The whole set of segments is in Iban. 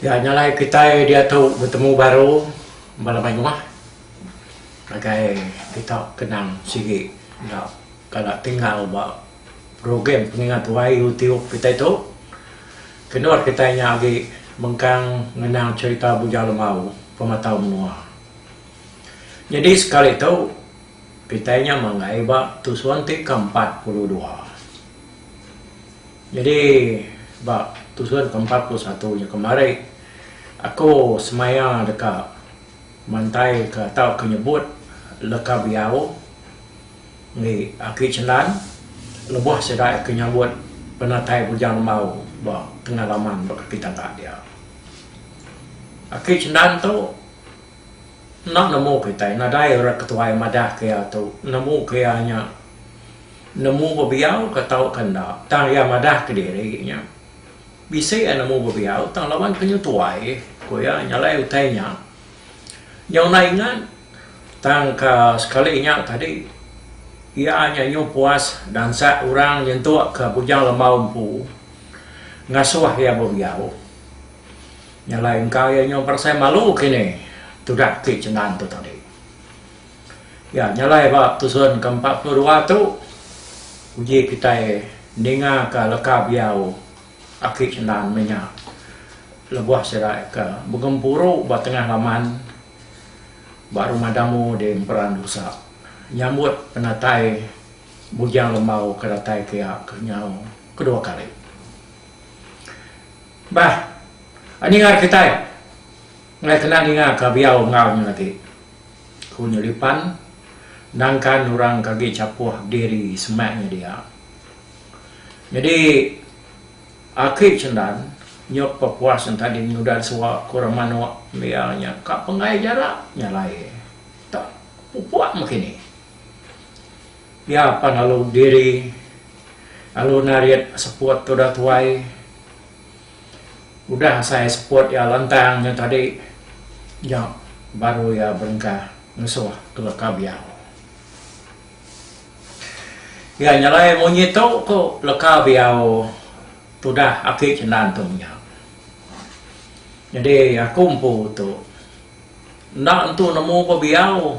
Ya nya alai kitai diatu betemu baru bala mai rumah ngagai kita kenang sigi enda kala tinggal ba program pengingat wai u tiup kitai tu. Keno kitai nya agi mengkang ngenang cherita Bujau Lemau pematau menua. Nyadi sekali tu. Kitai nya manggai ba tusun ti ke empat puluh dua. Nyadi ba tusun ke empat puluh satu nya kemari aku semaya deka mantai ke atau ke nyebut leka biau enggi aki Chendan lebuh sida ke nyambut penatai Bujang Lembau ba tengah laman ba kaki tangga dia. Aki Chendan tu. Enda nemu kitai nadai orang ketuai madah ke iya tu nemu ke iya nya nemu bebiau ka tau ka enda tang iya madah ke diri nya bisi iya nemu bebiau tang laban ke nyu tuai ku iya nya alai utai nya nyau enda ingat tang ka sekali nya tadi iya nya nyu puas dansak orang nyentuk ka bujang lembau empu ngasuh iya bebiau. Nya alai engka iya nyau perasai malu kini tudah ti chengan tu tadi. Ya, nya alai ba tusun ke empat puluh dua tu uji kitai ningaka leka biau aki chengan meh nya lebuh sida ke begempuru ba tengah laman ba Rumah Damu di Emperan Dusa nyambut penatai Bujang Lembau ke datai ke iya ke nyau kedua kali. Bah. Ninga kitai ngai kena ninga ka biau enggau nya agi, ku Nyelipan nangkan orang ke agi chapuh diri semak nya dia. Nyadi aki Chendan nyuk pepuas enta ding nudan suwa ku Remanok meh iya nya ka penggai jarak nya alai enta pupuk meh kini. Iya pan lalu diri lalu narit seput tudah tuai Udah asai spot iya lantang nya tadi nya baru iya berengkah ngesuh ke leka biau. Iya nyelai munyi tu ku leka biau tudah aki Chendan tu menya. Nyadi aku empu tu enda nentu nemu ba biau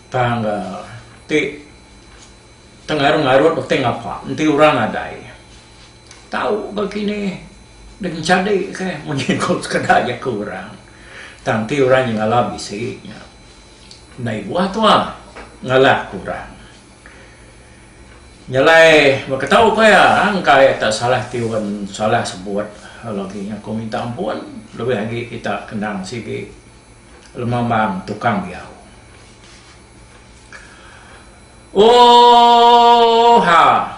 tang ti tengarut-ngarut uting apak enti orang nadai. Tau ba kini deh ngencadi ke mun iku sekeda jaku orang tang ti orang nyengala bisi nya ndai buah tua ngalahka orang. Nyelai beketau ko iya engka iya tak salah tiun salah sebut lagi nya ko minta ampun lebih agi kita kendang sigi lemambang tukang diau. Ooh ha.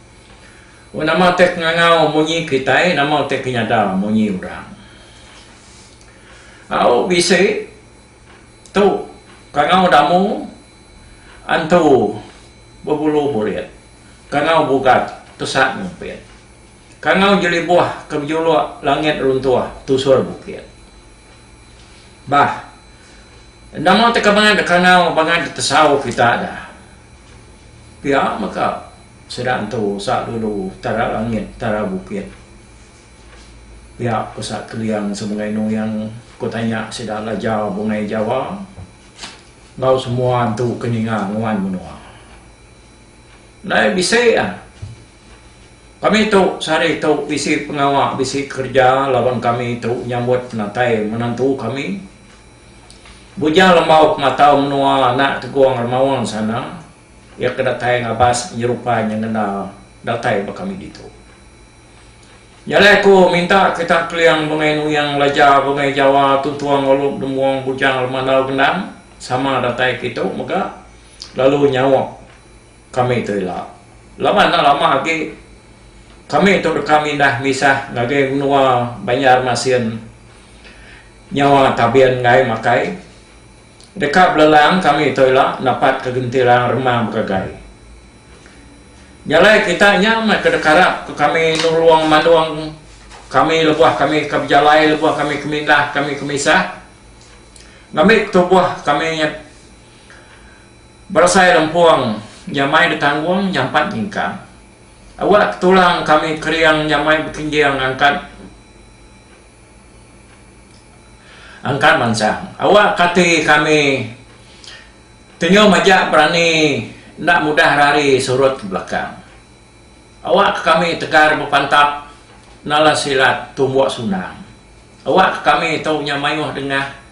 Wan nama utai ke ngangau munyi kitai, nama utai ke nyada munyi orang. Au bisi tu kangau damu antu bebulu burit, kangau bugat pesat ngumpit, kangau jelibuh ke bejuluk langit runtuh tusur bukit. Bah, nama utai ke bangat kangau bangat ditesau kita da. Pia mega. Sida entu usa dulu tara langit tara bukit. Pia ku Sat Keliang semegai nuyang ku tanya sida lajau bungai Jawa enggau semua entu ke ninga nguan menua. Ndai bisi ah. Kami tu sehari tu bisi pengawa bisi kerja laban kami tu nyambut penatai menantu kami. Bujang lembau pematau menua anak Tegong Remaun sana. Iya ke datai ngabas penyerupai nya ngena datai ba kami ditu. Nya alai aku minta kita Keling Bungai Nuyang Laja Bungai Jawa Tuntung Alup Dembong Bujang Lemandau Gendang sama datai ke itu mega lalu nyaup kami tu ila. Laban enda lama agi kami tu deka mindah misah ngagai menua Banjarmasin nyawa Tabin Ngai Makai. Deka belelang kami tu ila dapat ke gentiran remang begagai. Jalai kita nya meh ke deka arap ke kami nulung manung kami lebuh kami ke bejalai lebuh kami ke mindah kami ke misah ngambi tubuh kami berasai lempung nyamai ditanggung nyampat nyingkang awak ke tulang kami kering nyamai bekinjing angkat Engka mansang. Awak kati kami tenyau majak berani enda mudah rari surut ke belakang. Awak ke kami tegar bepantap nala silat tumbuk sunang. Awak ke kami tau nya mayuh dengah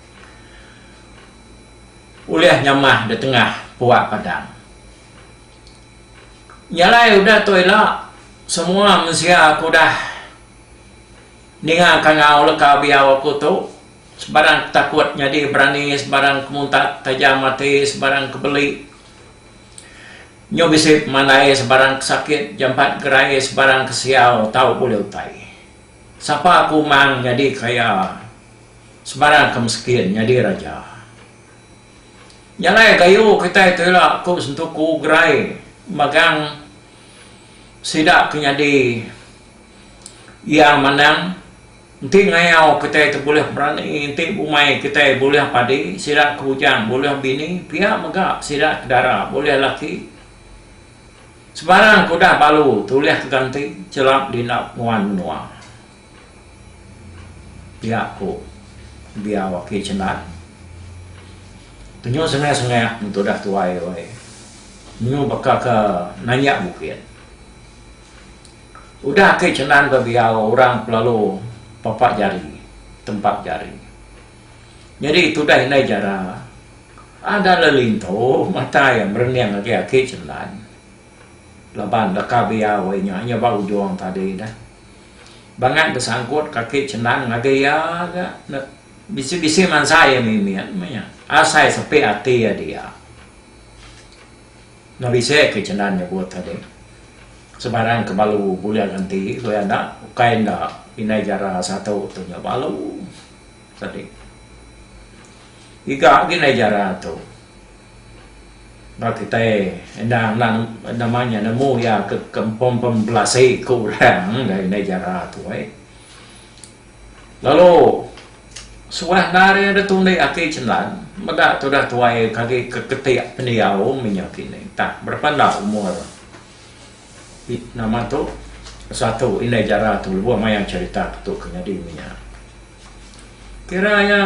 ulih nyamah di tengah puak padang. Nyalai udah tu ila, semua mensia ke udah. Ninga kangau leka biau aku tu, sebarang ke takut nyadi berani sebarang ke muntat tajam ati sebarang ke beli nyu bisi pemandai sebarang ke sakit jampat gerai sebarang ke siau tau bulih utai sapa aku mang nyadi kaya sebarang ke meskin nyadi raja nyalai gayu kitai tu ila aku besentuku gerai magang sida ke nyadi Iya manang, Enti ngayau kitai ti bulih berani, enti bumai kitai bulih padi, sida ke bujang bulih bini, pia mega sida ke dara bulih laki. Sebarang ke udah balu tulihka ganti chelap dindap nuan menua. Pia ku Biau Aki Chendan. Penyu sengih-sengih meh tu udah tuai weh. Penyu baka ke nanjak bukit. Udah agi Cenan bebiau orang pelalu papa jari tempat jari. Nyadi tudah indai jara ada lelintu mata iya merening agi aki Cenan laban deka biau iya nya iya ba ujung tadi dah. Bangat besangkut ke aki Cenan ngagai iya ga bisi-bisi mansa iya mimit meh nya asai sepi ati iya dia. Nya bisi ke Cendar nyebut agi, sebarang ke balu bulik enti ku iya enda ukai enda indai jara satu tu nya balu sadi. Giga agi indai jara tu ba kitai enda nang nama nya nemu iya ke kampung pembelasi ke orang indai jara tu ai. Lalu, suah endar iya deh tulik ati Chenlan meda tudah tuai iya ke agi ke ketik pendiau menyau kini tah berapa enda umur nama tu satu indai jara tu lebuh maya cherita ke tu ke nyadi menya. Kira iya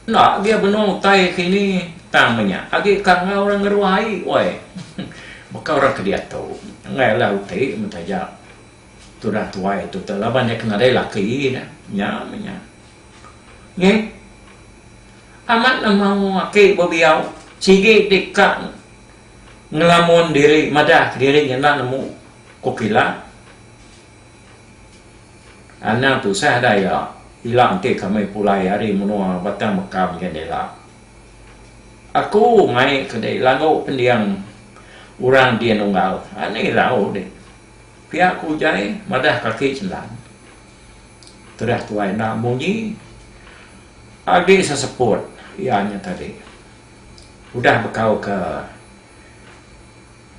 enda agi iya benung utai kini tang menya agi ka enggau orang ngeruai woi baka orang ke diatu enggai lah uti mun taja. Tudah tuai tu teh laban iya ke nadai laki nya. Nya meh nya. Neh. Amat ne mau aki bebiau sigi ti ka ngelamun diri madah kediri nyenda nemu ku kila. Anang tusah dah iya. Ila enti kami pulai ari menua Batang Meka mega enda ila. Aku mai ke dei lagu pending orang di Nunggal. Ani rau deh. Pia ku Ujai madah kaki Selan. Terah tuai enda munyi agi seseput iya nya tadi. Udah bekau ke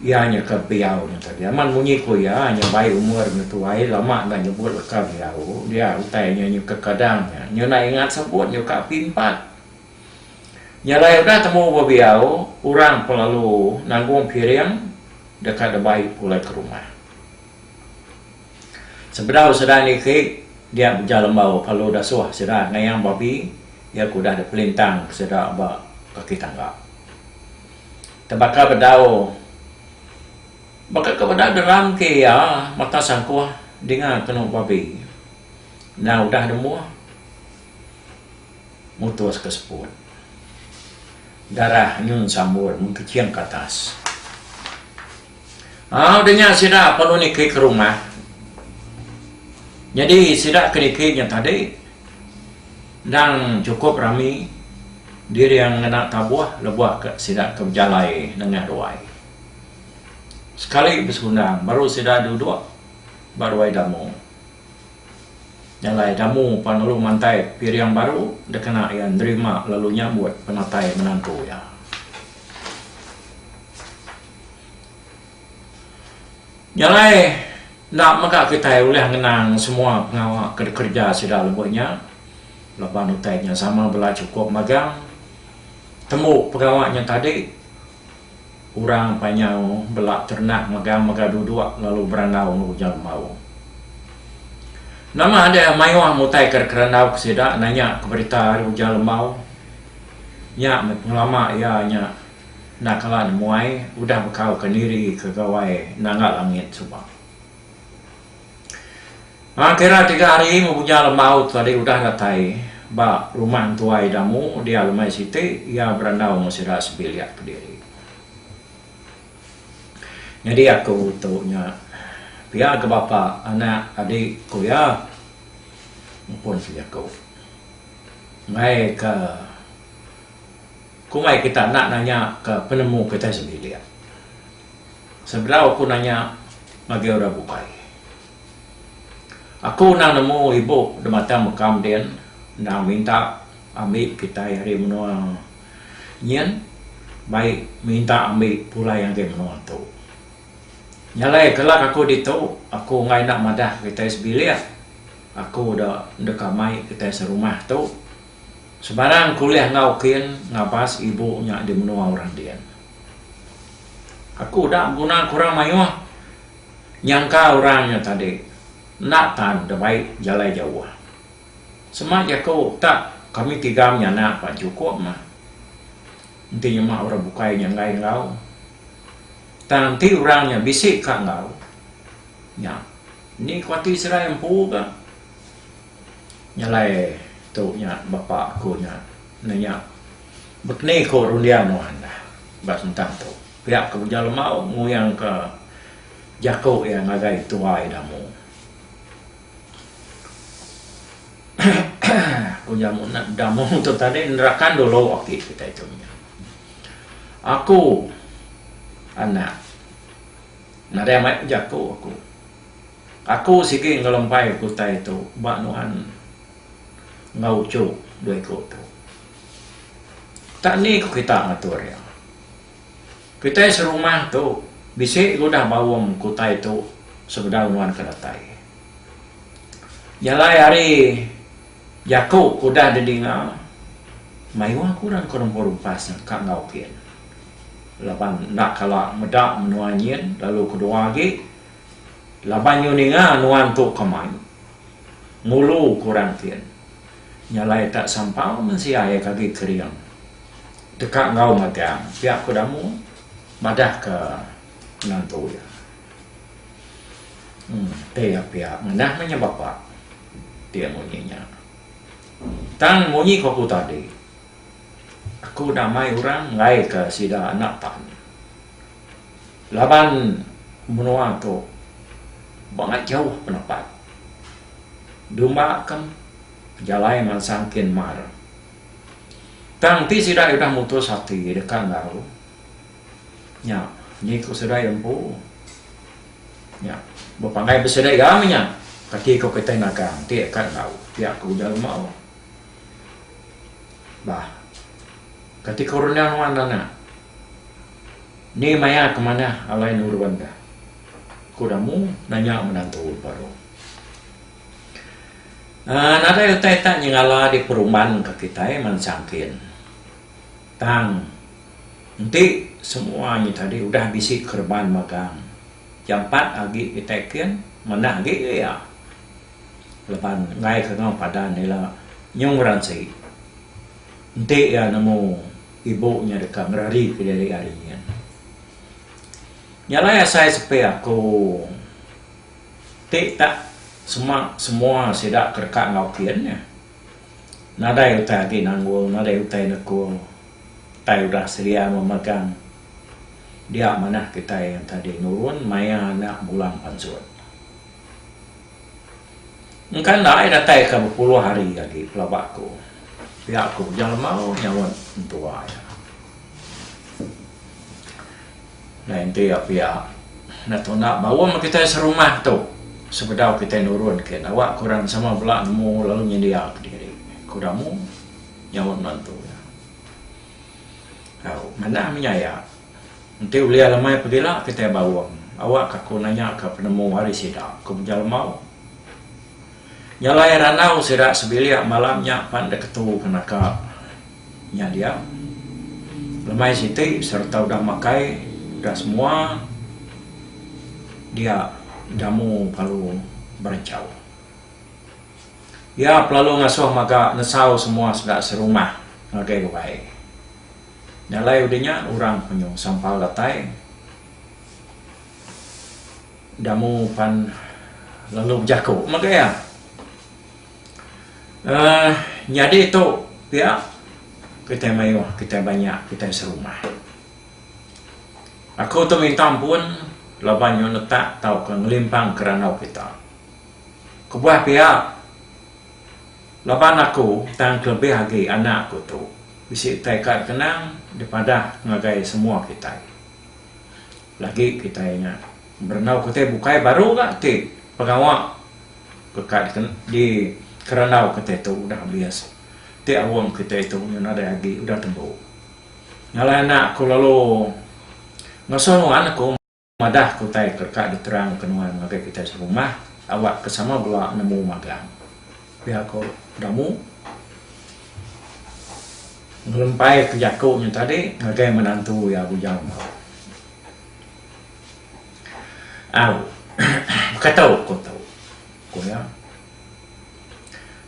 iya nya ke biau nya tadi. Amat munyi ku iya nya bai umur nya tuai lama enda nyebut leka biau dia utai nya nyukaka dang nya. Nyau enda ingat sebut nyukaka api empat. Nya alai udah temu ba biau, orang pun lalu nanggung piring deka debai pulai ke rumah. Sebedau sida niki dia beja lembau kalu dasuh sida ngayang babi iya ke udah dipelintang sida ba kaki tangga. Tebaka bedau baka ke bedau deram ke iya mata sangkuh dinga kenu babi enda udah nemuh. mutus ke seput. Darah nyun sambut mengkeching ke atas. Au udah nya sida perlu niki ke rumah. Nyadi sida ke niki nya tadi endang chukup rami diri iya ngena tabuh lebuh ke sida ke bejalai nengah ruai. Sekali besundang baru sida duduk ba ruai damu. Jalai Damu pan lalu mantai piring baru dikena iya nerima lalu nyambut penatai menantu iya. Jalai enda mega kitai ulih ngenang semua pengawa ke dikereja sida lebuh nya laban utai nya sama bela chukup magang tembu pengawa nya tadi. Orang panyau bela ternak megang mega duduk lalu berandau enggau ujar bau. Nama deh mayuh mutai ke kerandau ke sida nanya ke berita ari ujar lembau. Nya meh pengelama iya nya enda kala nemuai udah bekau ke niri ke gawai nangga langit suba. Aa kira tiga hari meh Bujang Lembaut tadi udah datai ba rumah entuai Damu dia lemai siti iya berandau enggau sida sebilik kediri. Nyadi aku tu nya pia ke bapa anak adi ku iya mupun ke jaku. Mai ke komai kita enda nanya ke penemu kitai sebilik. Sebedau aku nanya ngagai orang bukai. Aku endang nemu ibu di mata meka mendin endang minta ambi kitai ari menua nyin bai minta ambi pulai ngagai menua tu. Nyalai kelak aku ditu, aku enggai enda madah kitai sebilik. Aku da deka mai kitai serumah tu. Sebarang ku ulih enggau kin ngabas ibu nya di menua orang din. Aku udah beguna ke orang mayuh nyangka orang nya tadi enda tan da bai jalai jauh. Sema jaku ka kami tiga menyanak ba chukup mah. Enti nyema orang bukai nya enggai enggau tang enti orang nya bisi ka enggau nya indi kuati serai empu ga. Nyalai tu nya bapa aku nya nanya bekni ko runding nuan dah ba sentang tu. Pia ke Uja Lemau nguyang ka jaku iya ngagai tuai ida mu. Ku nya enda mu tu tadi nerakan dulu aki kitai tu nya. Aku anak nadai mai bejaku aku. Aku sigi ngelembai ke utai tu ba nuan enggau uchu dua iku tu. Tak ni ku kita ngatur iya. Kitai serumah tu bisi ke udah baum ke utai tu sebedau nuan ke datai. Jalai ari jaku ke udah didinga, mayuh aku ira engka nempu rumpas nya ka enggau kin. Laban enda kala meda menua nyin lalu kedua agi Laban nyu ninga nuan tu kamai, ngulu ku orang tin. Nya alai tak sampau mensia iya ke agi kering deka enggau magang pia ku Damu madah ke menantu iya. Em ti iya pia ngenah meh nya bapa ti munyi nya. Tang munyi ku aku tadi, aku damai orang enggai ke sida anak tan. Laban menua tu bangat jauh penepat dumba ke pejalai mansang kin mar. Tang ti sida udah mutus ati deka enggau nya ni ku sida iya empu nya bepanggai besida iya meh nya kati ku kitai nagang ti deka enggau pia ku ujar Mau. Bah kati ku runding nuan anak. Ni maya ke manah alai nurun ka? Ku Damu nanya menantu baru. Aaa nadai utai tak nyengala di perumban ka kitai mansang kin. Tang enti semua nya tadi udah bisi kereban magang jampat agi kitai kin manah agi ke iya leban enggai ka enggau padan ila Nyung Ransi enti iya nemu Ibu nya deka ngerari ke diri ari nyin. Nya alai asai sepi aku ti tak sema semua sida ke deka enggau kin nya. Nadai utai agi nanggung, nadai utai nekung, utai udah selia memegang dia manah kitai yang tadi nurun maya anak bulang pansut. Engka endai datai ka bepuluh hari agi pelaba aku. Pia ku Bujang Lemau nyaut mentua iya. Dai enti iya pia enda tuna baum ba kitai serumah tu sebedau kitai nurun ke nawa ku orang sama bela nemu lalu nyendia ke diri ku Ramu nyaut menantu iya. Au manah menyaya. Enti ulia lemai pebila kitai baung, awakka aku nanyaka penemu ari sida, ku Menjal Lemau. Nyalai randau sida sebilik malam nya pan dek ketu ke naka nya dia. Lemai siti sereta udah makai udah semua dia jamu lalu berenchau. Iya pelalu ngasuh maga nesau semua sida serumah ngagai ke baik. Nya alai udah nya orang penyu sampal datai damu pan lalu bejaku mega iya. Uh, nyadi tu pia kitai mayuh, kitai banyak, kitai serumah. Aku tu minta ampun laban nyu netak tauka ngelimpang ke randau kita. Kebuah pia Laban aku tang kelebih agi anak aku tu bisi utai ka dikenang dipadah ngagai semua kitai. Lagi kitai nya berandau ke utai bukai baru ga ti pengawa ke ka dikerandau kitai tu udah habis ti aum kitai tu nya nadai agi udah tembu. Ngalai anak aku lalu ngasuh nuan aku. Madah ke utai ke deka diterangka nuan ngagai kitai serumah awak ke sama bela nemu magang. Pia ko Damu ngelempaika jaku nya tadi ngagai menantu iya bujang nya. Au. Baka tu ko tu. Ko iya.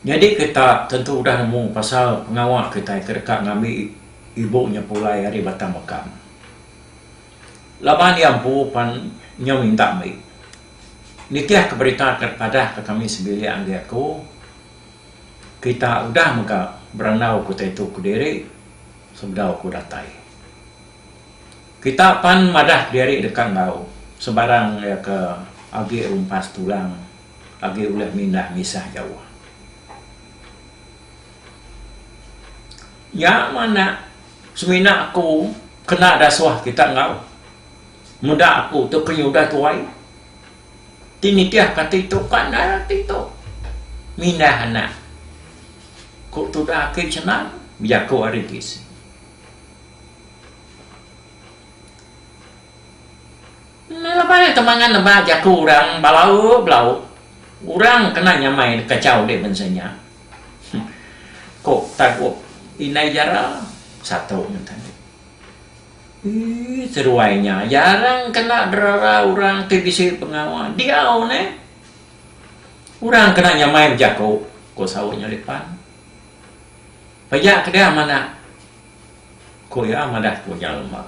Nyadi kita tentu udah nemu pasal pengawa kitai ke deka ngambi ibu nya pulai ari Batang Mekam. Laban iya empu pan nyau minta meri. Nitihka berita ke padahka kami sebilik agi aku, kita udah mega berandau utai tu kediri sebedau aku datai. Kita pan madah diri deka enggau sebarang iya ke agi rumpas tulang agi ulih mindah misah jauh. Nya manah. Semina aku kena dasuh kita enggau meda aku tu penyudah tuai ti nitih kati tu ka endar ati tu mindah anak ku tudah aki senang bejaku ari PC. Laban nya temangan nebak jaku orang bala belau orang kena nyamai kachau di bansa nya. Ko Tagop indai Jara besatu ngan Tagop. Ii seduai nya jarang kena derara orang ti bisi pengawa diau neh. Orang kena nyamai bejaku, ko saut nya Lipan. Pejak kedah manak. Ku iya madah ku nya lemau.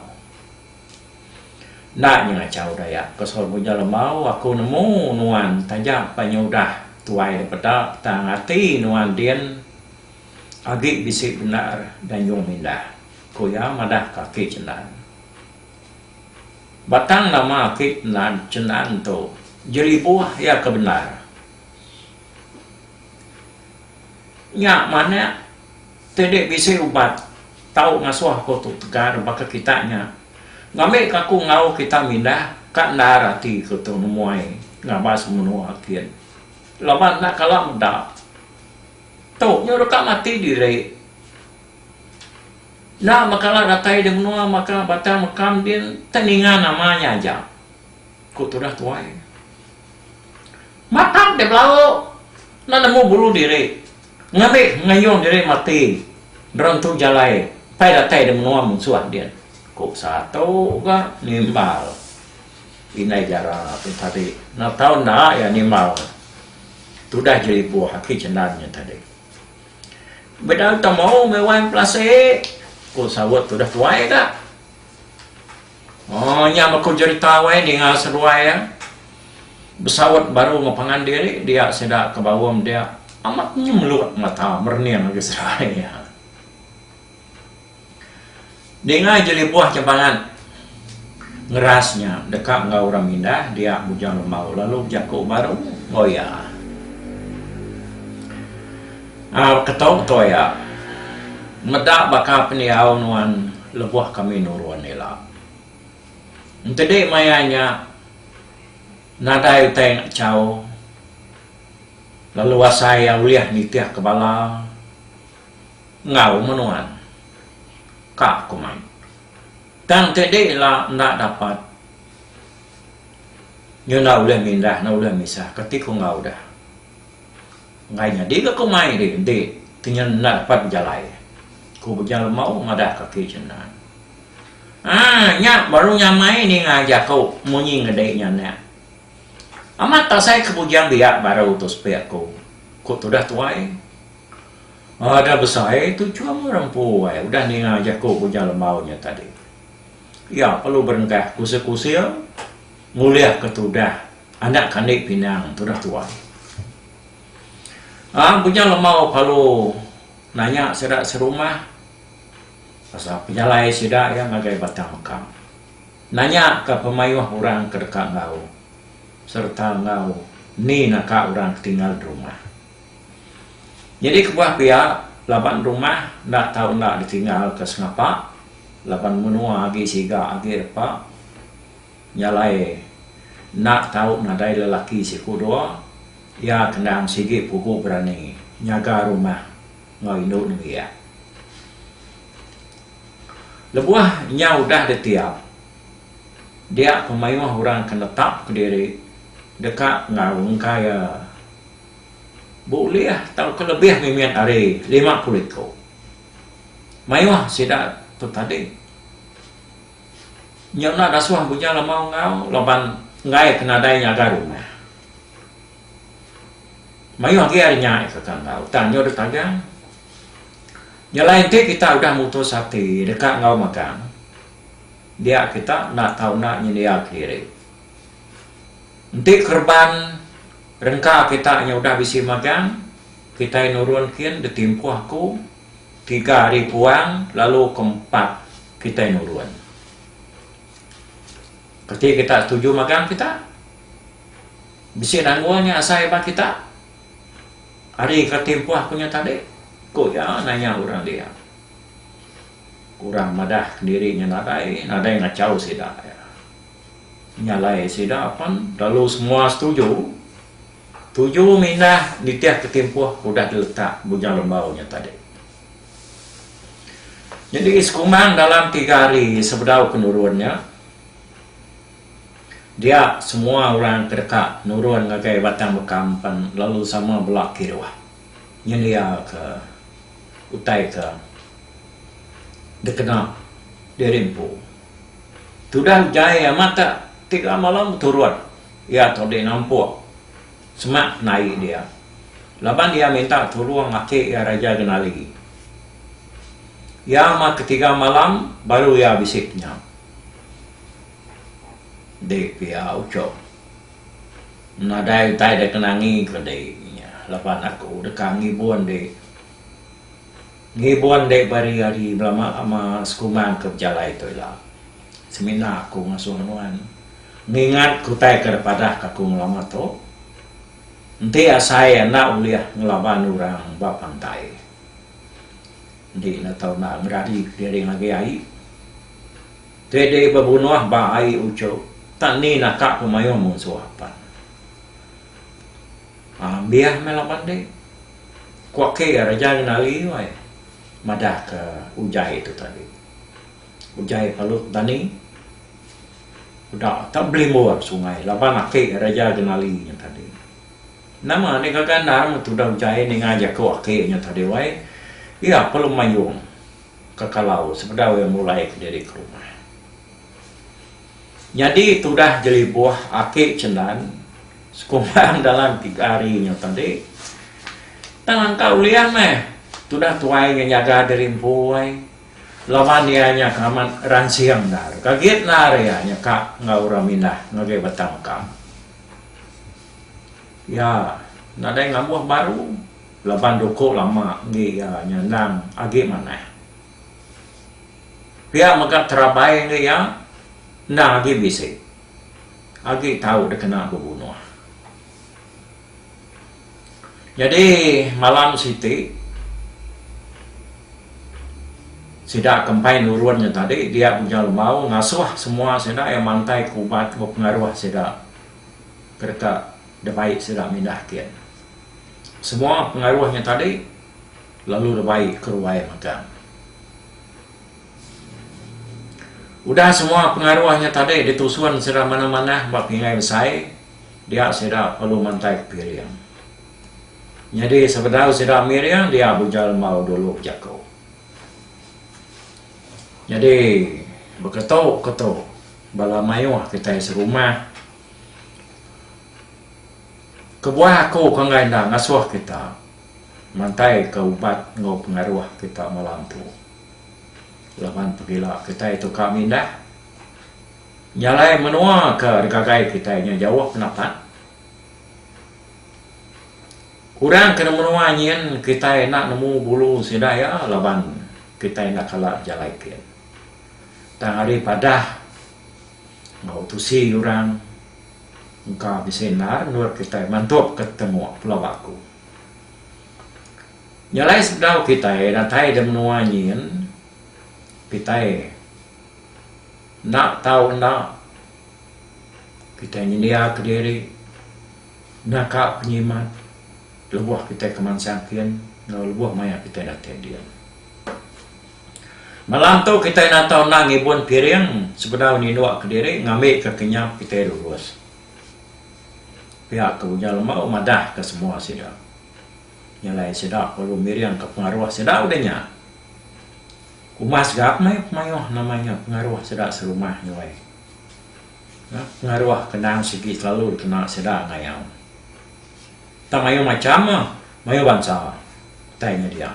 Enda nyengachau Dayak pasal ku nya lemau aku nemu nuan taja pa nya udah tuai dipeda tang ati nuan din agi bisi bendar danjung mindah ku iya madah ka aki Cendan. Batang nama aki Cendan tu Jelibuh iya ke bendar. Nya manak. Ti dek bisi ubat tau ngasuh aku tu tegar baka kita nya. Ngambi ka aku enggau kita mindah ka endar ati ku tu nemuai ngabas menua kin. Laban enda kala meda. Tu nyu deka mati diri. Enda ba kala datai di menua maka batang mekam din ti ninga nama nya aja, ku tudah tuai. Matak dek belauk enda nemu bulu diri. Ngambi ngayung diri mati nerentu jalai pai datai di menua munsuh din, ku satu ga nimbal indai jara tu tadi. Enda tau enda iya nimbal tudah jelibuh aki Cendan nya tadi. Bedau temu meh wan Pelasik, ku saut tudah tuai ga. Oh nya baka jerita wai dinga seduai iya besaut baru enggau pangan diri dia sida ke bau meda amat nyemelut mata merening agi seduai iya. Dinga jelibuh ja bangat ngeras nya deka enggau orang mindah dia Bujang Lembau lalu bejaku baru enggau iya. Keto betul iya. Meda baka pendiau nuan lebuh kami nurun ila. Entedi maya nya nadai utai enda chau lalu asai iya ulih nitihka bala enggau meh nuan. Ka aku mai. Tang entedi ila enda dapat nyau enda ulih mindah enda ulih misahka ti ku enggau deh. Enggai nyadi ga ku mai dih enti kenyel enda dapat bejalai, ku Bujang Lemau madah kaki Chendan. Haa, nya baru nyamai ninga jaku munyi ngedi nya anak. Amat tasai ke bujang biak baru tu sepik aku, ku tudah tuai. Ada besai tu chum orang empu ai udah ninga jaku Bujang Lemau nya tadi. Iya perlu berengkah kusing-kusing ngulihka tudah anak kandi pinang tudah tuai. Aang Bujang Lemau Palu nanya sida serumah pasal pejalai sida iya ngagai Batang Mekang. Nanya ka pemayuh orang ke deka enggau sereta enggau ni naka orang ke tinggal derumah. Nyadi kebuah pia laban rumah enda tau enda ditinggal ka sengapa laban menua agi siga agi repa. Nya alai, enda tau nadai lelaki siku dua, iya kendang sigi pugu berani nyaga rumah enggau indu nembiak. Lebuh nya udah ditiap, dia pemayuh orang ke netapka diri deka ngaungka iya beulih tauka lebih mimit ari lima puluh iku mayuh sida tu tadi. Nya udah suah bujang lama enggau laban enggai ke nadai nyaga rumah. Mayuh agi ari nya iko ke enggau tang nya deh tagang. Nyelai enti kita udah mutus ati deka enggau magang dia kita enda tau enda nyendia kediri. Enti kereban rengka kita nya udah bisi magang kitai nurun kin ditimpuh aku Tiga hari puang lalu ke empat kitai nurun. Kati kita setuju magang kita? Bisi nanggung nya asai ba kita. Ari ke timpuh ku nya tadi, ku iya nanya orang dia. Orang madah kendiri nya nadai, nadai ngachau sida iya. Nya alai sida pen lalu semua setuju. Tuju minah nitih ketimpuh ke udah diletak Bujang Lembau nya tadi. Nyadi sekumang dalam tiga hari sebedau ke nurun nya, dia semua orang ke deka nurun ngagai Batang Bekam pan lalu sama bela kiruh nyendia ke utai ke dikena diri empu. Tudah jai amat tak tiga malam beturut. Iya tu deh nampuk semak penai dia laban dia minta tulung laki iya Raja Genali. Iya amat ke tiga malam baru iya bisi penyam. Enti pia uchup nadai utai deh kena ngi ke deh inya laban aku deka ngibun deh. Ngibun deh bari hari belama lama sekumbang ke bejalai tu ila semina aku ngasuh nuan. Ngingat kutai ke depadah ka aku ngelama tu, enti asai enda ulih ngelaban orang ba pantai, enti enda tau enda ngerari kediring agi ai, ti di bebunoh ba ai uchu, tak ni naka ku mayuh munsuh apan. Ambih meh laban ti, ku ake Raja Ngenali wai madah ke ujai tu tadi. Ujai palut dani. Uda tak belimbur sungai laban aki Raja Genali nya tadi. Nama nih gaga endar meh tudah ujai ninga jaku aki nya tadi wai. Iya pa lu mayung ka kalau sebedau iya mulai ke diri ke rumah. Nyadi tudah jelibuh aki Cendan sekumbang dalam tiga hari nya tadi. Tang angka ulih meh tudah tuai nya nyaga diri empu ai. Laban iya nya ka amat ransing endar. Ka git endar iya nya ka enggau orang mindah ngagai batang ka. Iya nadai ngambuh baru laban duku lama enggi iya nya endang agi manah. Pia mega terabai enggi iya endang agi bisi. Agi tau dikena bebunuh. Nyadi malam siti sida ke empai nurun nya tadi dia Bunya Lemau ngasuh semua sida iya mantai ke uban enggau pengaruh sida ke deka dibai sida mindah kin. Semua pengaruh nya tadi lalu dibai ke ruai mega. Udah semua pengaruh nya tadi ditusun sida manah-manah ba pingai besai. dia sida perlu mantai piring. Nyadi sebedau sida miring dia bujal embau dulu jaku. Nyadi beketu ketu bala mayuh kitai serumah kebuah aku ke enggai enda ngasuh kita mantaika ubat enggau pengaruh kita malam tu laban pegila kitai tu ka mindah. Nya alai menua ke ngagai kitai nya jauh penapat. Kurang ke nemu menua nyin kitai enda nemu bulu sida iya laban kitai enda kala bejalai gin. Tang ari padah enggau tusi orang engka bisi endar endur kitai mantup ke tetenguh Pulau Baku. Nya alai sebedau kitai datai da menua nyin kitai. Enda tau enda kitai nyendiaka diri nyaka pengimat lebuh kitai kemansang kin enggau lebuh maya kitai datai din. Malam tu kitai nata enda ngibun piring sebedau ninduka diri ngambika kenyap kitai lulus. Pia ke Ujar Lembau madahka semua sida. Nyelai sida perlu miringka pengaruh sida udah nya. Kumas ga meh pemayuh nama nya pengaruh sida serumah nyuai. Nya pengaruh ke endang sigi selalu dikena sida ngayau. Tang mayuh macham meh mayuh bansa utai nya dia.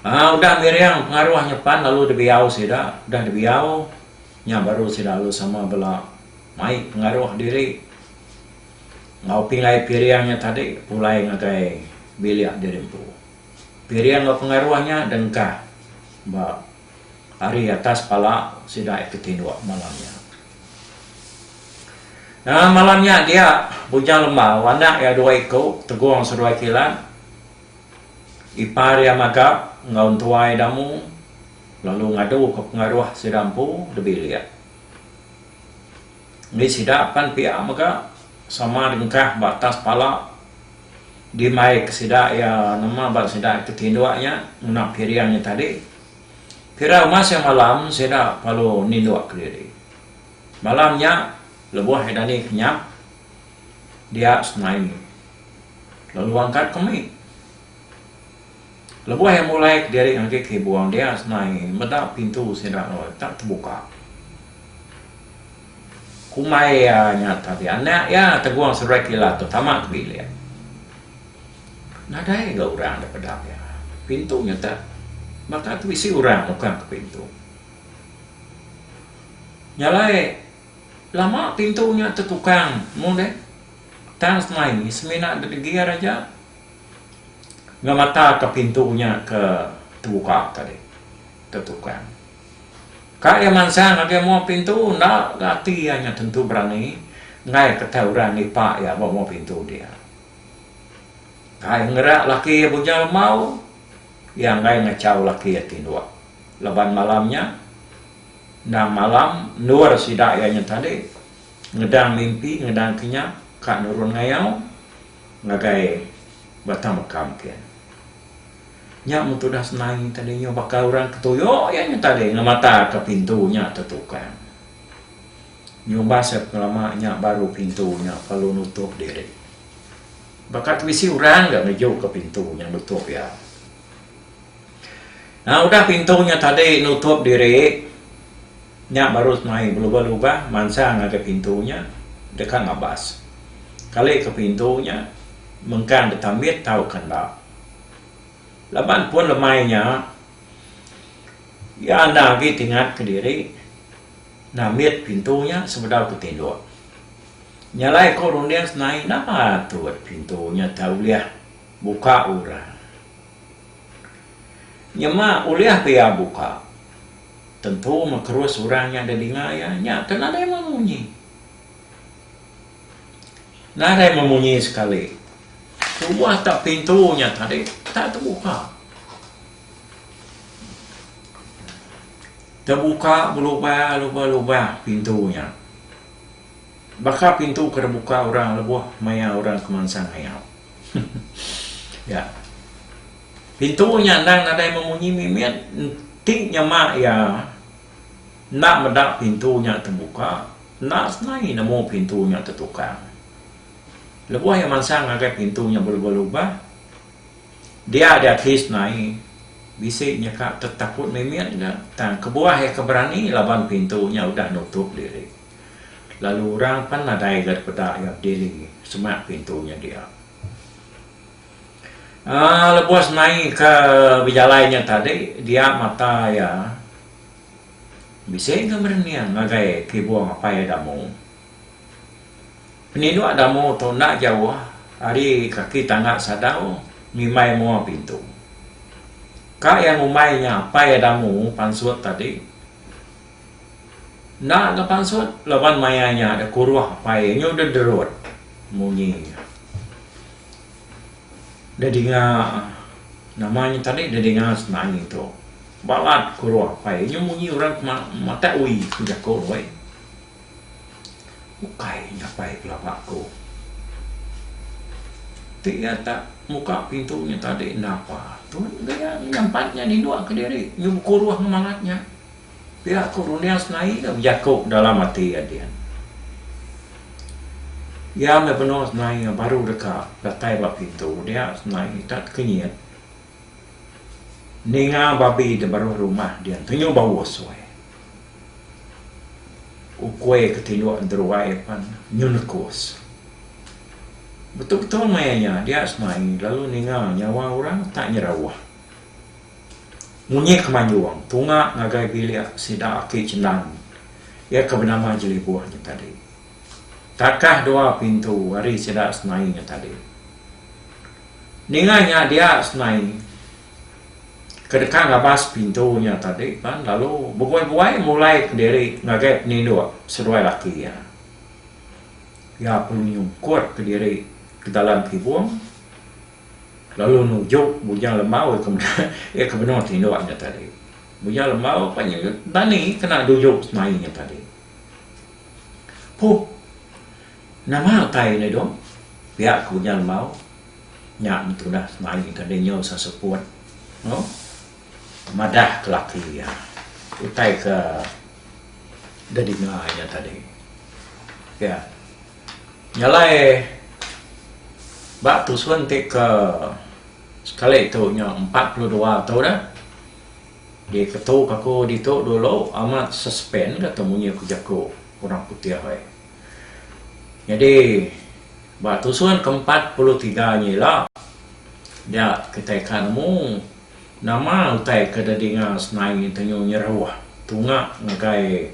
Aa udah miring pengaruh nya pan lalu dibiau sida, udah dibiau nya baru sida lalu sama bela mai pengaruh diri enggau pingai piring nya tadi pulai ngagai bilik diri empu. Piring enggau pengaruh nya dengkah ba ari atas pala sida ke tinduk malam nya. Dalam malam nya dia, Bujang Lembau, anak iya dua iku, Tegong Seduai Kilat, ipar iya Magap enggau Entuai Damu lalu ngaduka pengaruh sida empu dibilik. Nya sida pan pia mega sama dengkah ba atas pala dimaika sida iya nama ba sida iti tinduk nya ngena piring nya tadi. Pira rumah siang malam sida perlu ninduk kediri. Malam nya lebuh ida ni kenyah dia senaie lalu angkat ke mit. Lebuh iya mulai kediri ngagai ke ibuang dia senai meda pintu sida lalu tak tebuka. Kumbai iya nya tadi anak iya Teguang Seruai Kilat tu tama ke bilik. Nadai ga orang da peda iya. Pintu nya tak baka tu bisi orang nukang ke pintu. Nya alai lama pintu nya tetukang mung deh tang senai semina degi iya raja. Ngemataka pintu nya ke tebuka tadi ke tukang. Ka iya mansang ngagai mua pintu enda ga ati iya nya tentu berani enggai ketai orang nipa iya ba mua pintu dia. Ka iya ngerak laki iya bujang lembau iya enggai ngechau laki iya tinduk laban malam nya endang malam endur sida iya nya tadi ngedang mimpi ngedang kinya ka nurun ngayau. Ngagai batang bekam kin. Nya mun tudah senang nya tadi nyau baka urang ke tuyok iya nya tadi ngemata ke pintu nya tetukang. Nyumbas iya pengelama nya baru pintu nya perlu nutup diri. Baka tu bisi urang ga ngeju ke pintu nya nutup iya. Nah udah pintu nya tadi nutup diri, nya baru mai belubah lubah mansang ngagai pintu nya deka ngabas. Kali ke pintu nya mengkang deka mit tauka enda. Laban pun lemai nya iya enda agi tingat ke diri nah mit pintu nya sebedau ke tinduk. Nyalai ku runding senai napa tu pintu nya tak ulih buka orang. Nyema ulih ke iya buka. Tentu meh terus orang nya deh dinga iya. Nya ke nadai meh munyi. Nadai meh munyi sekali. Tuah tak pintu nya tadi tak tebuka. Tebuka belubang-lubang pintu nya. Baka pintu ke dibuka orang lebuh maya orang ke mansang ngayau. Nya. Pintu nya endang nadai memunyi mimit enti nyema iya enda meda pintu nya tebuka, enda senai nemu pintu nya tetukang. Lebuh iya mansang ngagai pintu nya belubah-lubah, dia di ati senai bisi nyeka tetakut mimit ga tang kebuah iya ke berani laban pintu nya udah nutup diri. Lalu orang pan nadai ga dipeda iya bediri semak pintu nya dia. Aa lebuh semai ka bejalai nya tadi dia mata iya bisi ga merening ngagai kibung apai iya damu. Peninduk damu tu enda jauh ari kaki tangga sadau ngimbai mua pintu. Ka iya ngumbai nya apai iya damu pansut tadi. Enda ga pansut laban maya nya deh kuruh apai iya nyu deh derut munyi nya. Deh dinga nama nya tadi deh dinga semangi tu. Balat kuruh apai iya nyu munyi orang ke matai uii ku jaku deh wei. Ukai nya apai belaba ku. Ti iya tak muka pintu nya tadi enda apa tun. Nya nyampat nya ninduk ke diri nyu bekuruh ngemangat nya. Pia ku Runias naie ga bejaku dalam ati iya din. Iya meh benung senaie baru deka datai ba pintu dia senaie tat kenyit ninga babi di baruh rumah din tenyu bau usoi. Ukoi ke tinduk enteruai pan nyu nekus. Betul-betul maya nya dia senaie lalu ninga nyawa orang tat nyerawah. Munyi ke manjung tunga ngagai bilik sida aki Chendan iya ke benama Jelibuh nya tadi. Takah dua pintu ari sida senai nya tadi. Ninga nya dia senai ke deka ngabas pintu nya tadi pan lalu bebuai-buai mulai ke diri ngagai peninduk seduai laki iya. Iya perlu nyungkut ke diri ke dalam kibung. Lalu nujuk Bujang Lembau iya ke meda iya ke benung tinduk nya tadi. Bujang Lembau pan nya tani kena nujuk semai nya tadi. Puh nama utai ne dong pia ke Bujang Lembau nya betudah semai tadi nyau seseput no madah ke laki iya utai ke didinga iya tadi. Pia. Jalai ba tusun ti ke sekali tu nya empat puluh dua tu dah di ketu ka ku ditu dulu amat suspend ka tu munyi ku jaku orang putih ai. Nyadi ba tusun ke empat puluh tiga nya ila nya kitai ka nemu Nama utai ke dadi ngau senai ngintenyu nyeruh tunga ngagai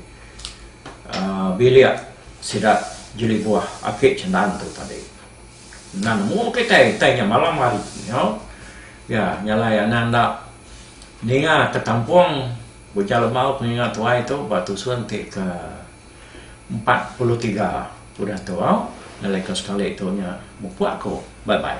bilik sida jelibuh ake cendan tu tadi. Enda nemu kitai utai nya malam hari nyau ya nya alai anang enda ninga ke tampung ujar lembau penginga tuai tu ba tusun ti ke empat puluh tiga udah tu au ngelaika sekali tu nya mupuk aku. Bye bye.